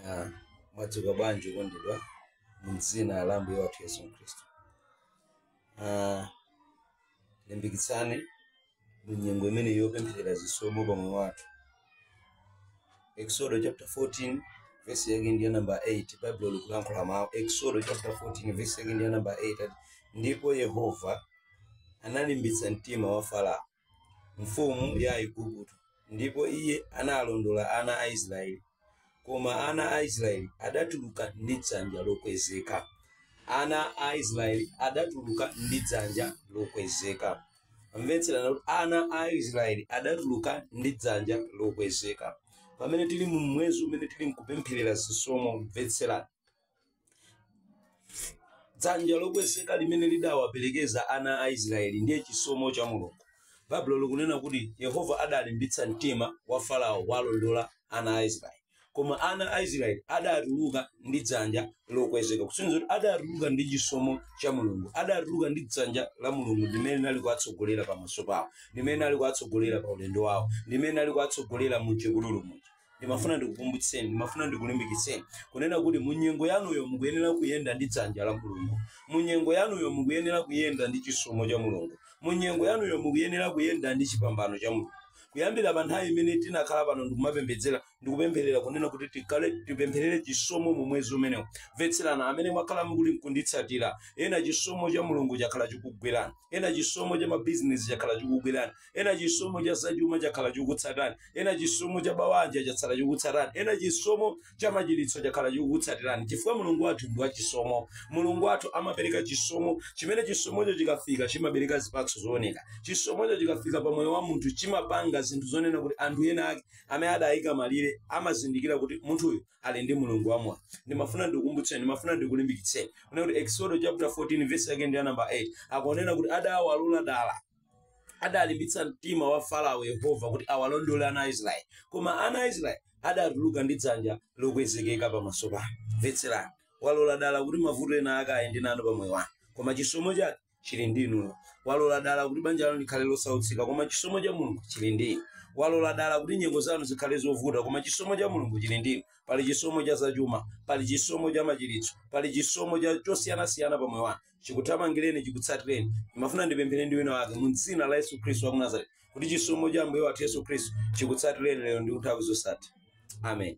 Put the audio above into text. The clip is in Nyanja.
Ah, mwadzuka bwanji okondedwa mdzina la ambuye wathu yesu khristu Ah, tilimbikitsane mu nyengo imene yopempherera zisomo pa moyo wathu exodo chapter 14 vesi yake ndiya namba 8 baibulo likulankhula mawu exodo chapter 14 vesi yake ndiya namba 8 ati, ndipo yehova analimbitsa mtima wa farao mfumu ya Aigupto, ndipo iye analondola ana a Israeli. Koma ana a Israeli adatuluka ndi dzanja lokwezeka. Ana a Israeli adatuluka ndi dzanja lokwezeka. Tamvetserani kuti ana a Israeli adatuluka ndi dzanja lokwezeka. Pamene tili mu mwezi umene tili mkupempherera zisomo, mvetserani. dzanja lokwezeka limene lidawaperekeza ana a israeli ndiye chisomo cha mulungu baibulo likunena kuti yehova adalimbitsa mtima wa farao awalondola ana a israeli koma ana a israeli adatuluka ndi dzanja lokwezeka kusonyeza kuti adatuluka ndi chisomo cha mulungu adatuluka ndi dzanja la mulungu limene linali kuwatsogolera pamaso pawo limene linali kuwatsogolera pa ulendo wawo limene linali kuwatsogolera mu chipululu muja ndimafuna ndikukumbutseni ndimafuna ndikulimbikitseni kunena kuti munyengo yanuyo mukuyenera kuyenda ndi dzanja la mulungu munyengo yanuyo mukuyenera kuyenda ndi chisomo cha mulungu munyengo yanuyo mukuyenera kuyenda ndi chipambano cha mulungu kuyambira pa nthawi imene tinakhala pano ndikumapembedzera ndikupempherera kunena kuti tipempherere chisomo mu mwezi umenewu mvetserani amene mwakhala mukuli mkunditsatira ena chisomo cha mulungu chakhala chikugwerani ena chisomo cha mabizinesi chakhala chikugwerani ena chisomo cha zachuma chakhala chikutsatani ena chisomo cha mabanja chakhala chikutsatani ena chisomo cha machiritso chakhala chikutsatirani chifukwa mulungu wathu ndi wachisomo mulungu wathu amapereka chisomo chimene chisomocho chikafika chimabereka zipatso zooneka chisomocho chikafika pa moyo wa munthu chimapanga zinthu zonena kuti anthu ena ake amene adayika malire amazindikira kuti munthuyu ali ndi mulungu wamoyo ndimafuna ndikukumbutseni ndimafuna ndikulimbikitseni kunena kuti exodo chapter 14 verse yake ndi ya namba 8 akunena kuti adawalola dala adalimbitsa mtima wa farao yehova kuti awalondole ana a israeli koma ana a israeli adatuluka ndi dzanja lokwezekeka pamaso pake mvetserani walola dala kuti mavuto ena ake ayende nanu pamoyo wanu koma chisomo chake chili ndi inuyo walola dala kuti banja lanu likhale losautsika koma chisomo cha mulungu chili ndi inu walola dala kuti nyengo zanu zikhale zovuta koma chisomo cha mulungu chili ndi inu pali chisomo cha zachuma pali chisomo cha machiritso pali chisomo cha chosiyanasiyana pamoyo wanu chikuthamangireni chikutsatireni ndimafuna ndipemphere ndi wina wake mu dzina la yesu khristu wa ku nazareti kuti chisomo cha ambuye wathu yesu khristu chikutsatireni lero ndi nthawi zosatha amen